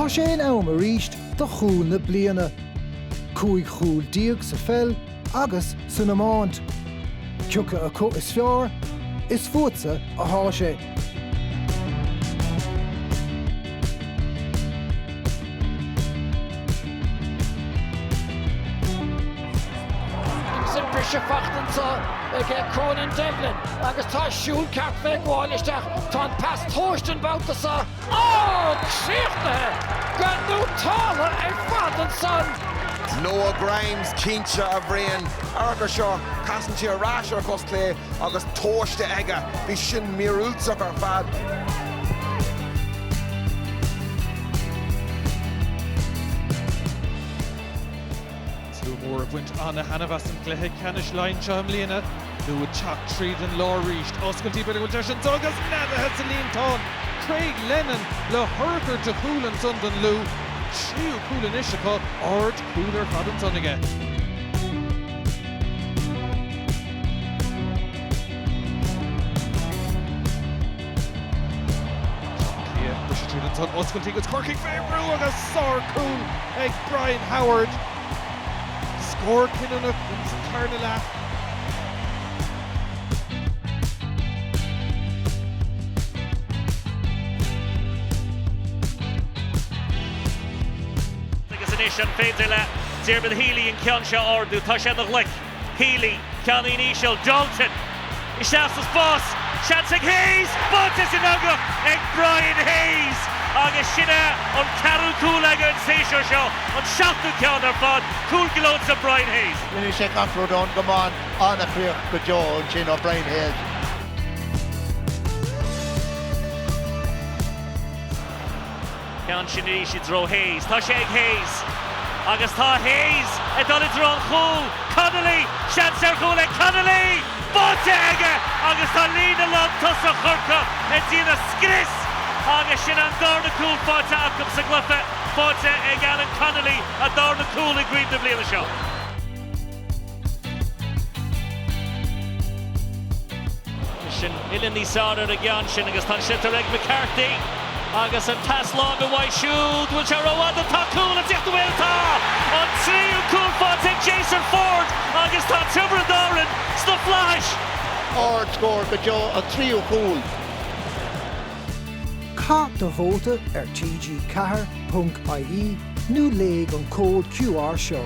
Tá sé in am arís do chúl na bliana. Cúig chúl déag sa pheil agus san iomáint. Cé acu is fearr, is fútsa atá sé. Sin briseadh faighte anseo ag Cormac Devlin agus tá siúl ceart fé ghabháil isteach. Tá an pas tomhaiste an babhta seo ó críochnaithe go néata ar fad ansan. Noah Grimes cinnte, a Bhriain. Amharc ar seo, casann sé ar ais ar a chos chlé agus tomhaiste aige. Bhí sin míorúilteach ar fad. Slua mór ag baint an-thaitneamh as an gcluiche ceannais Laighean seo i mbliana. Lú ag teacht tríd an lár arís. Oscailtí b'fhéidir go bhfuil deis anso agus neadaithe sa líontán! Craig Lennon le hurchar de chúl ansan don Lú. Tríú cúl anois acu, aird chúil ar fad ansan aige. Tá oscailtí agus Corcaigh fé bhrú agus sár cúl ag Brian Howard, scór cinniúnach sa tarna leath. Agus anois an féidir le Diarmuid Healy an ceann seo a ardú? Tá sé ina ghlic. Healy, ceann íseal, Dalton, isteach sa spás, seans ag Hayes, báite san eangach ag Brian Hayes agus sin é an ceathrú cúl aige an séasúr seo, an seachtú ceann ar fad, cúl gleoite do Brian Hayes. ní raibh sé ach ruda ón gcamán, an-chríoch go deo ansin ó Brian Hayes. Ceann sin arís i dtreo Hayes. Tá sé ag Hayes. Agus tá Hayes ag dul i dtreo an chúil. Connolly! Seans ar chúl ag Connolly! Faighte aige agus tá líne lán tosaithe Chorcaí ag déanamh scrios agus sin an darna cúl faighte acu sa gcluiche. Faighte ag Alan Connolly, a dharna cúl i gcraobh na bliana seo. Tá sin uile níos fearr ar an gceann sin agus tá an sliotar ag McCarthy agus an pas láimhe uaidh siúd, bhfuil sé rófhada, bhfuil cúl ag tíocht bhuel tá an tríú cúl faighte ag Jason Forde agus tá Tiobraid Árann sna flaithis. Ard scór go deo an tríú cúl. Caith do vóta ar TG4 ponc ie. nó léigh an cód QR seo.